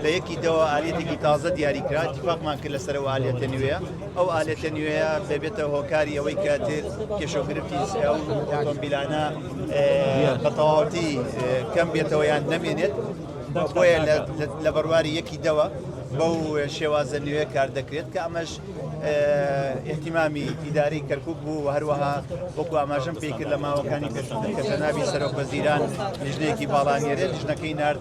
بە یەکی دەوە ئالیەتێکی تازە دیاری کرا اتفاقمان کرد لەسەر ئەو ئالیەتە نوێیە ئەو ئالیەتە نوێیە دەبێتە هۆکاری ئەوەی کە تر کێشە و گرفتی ئەو ئۆتۆمبیلانە اه، بە تەواوەتی اه، کەم بێتەوە یان نەمێنێت بۆیە لە- لە- لە بەرواری یەکی دەوە بەو شێوازە نوێ کار دەکرێت کە ئەمەش اه، اهتمامی ئیدارەی کەرکوک بوو و هەروەها وەکو ئاماژەم پێی کرد لە ماوەکانی پێشووتر کە جەنابی سەرۆک وەزیران لیژنەیەکی باڵا نێرێ لیژنەکەی نارد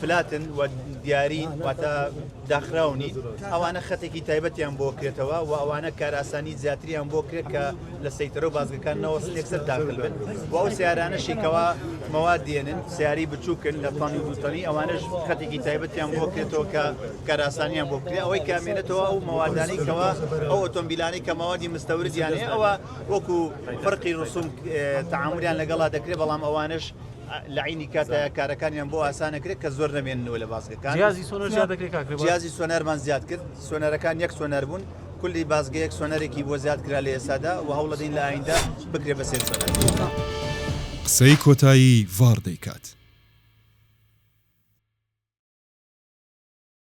فلاتن و دیارین واتە داخراو نین ئەوانە خەتێکی تایبەتیان بۆ کرێتەوە و ئەوانە کاراسانی زیاتریان بۆ کرێت کە لە سەیتەرە و بازگەکان نەوە سێکسەر داخل بن و ئەو سیارانە شیکەوە مەواد دێنن سیاری بچووکن لە تانی دوتەنی ئەوانش خەتێکی تایبەتیان بۆ کرێتەوە کە کاراسانیان بۆ کرێ ئەوەی کامێنێتەوە ئەو مەوادانی کەەوە ئەو ئۆتۆمبیلانی کە مەوادی مستەوردیانەیە ئەوە وەکو فەرقی ڕسوم تعاملیان لەگەڵا دەکرێت بەڵام ئەوانش لە عینی کاتە کارەکانیان بۆ ئاسانەکرێت کە زۆر نەمێنەوە لە بازگەکان جیازی سۆنەر زیاد دەکرێت کاک رێباز. جیازی سۆنەرمان زیاد کرد سۆنەرەکان یەک سۆنەر بوون کلی بازگەیەک سۆنەرێکی بۆ زیاد کرا لە ئێسادا و هەوڵەدەین لە ئایندە بکرێ بە سێ سۆنەر. قسەی کۆتایی ڤار دەیکات.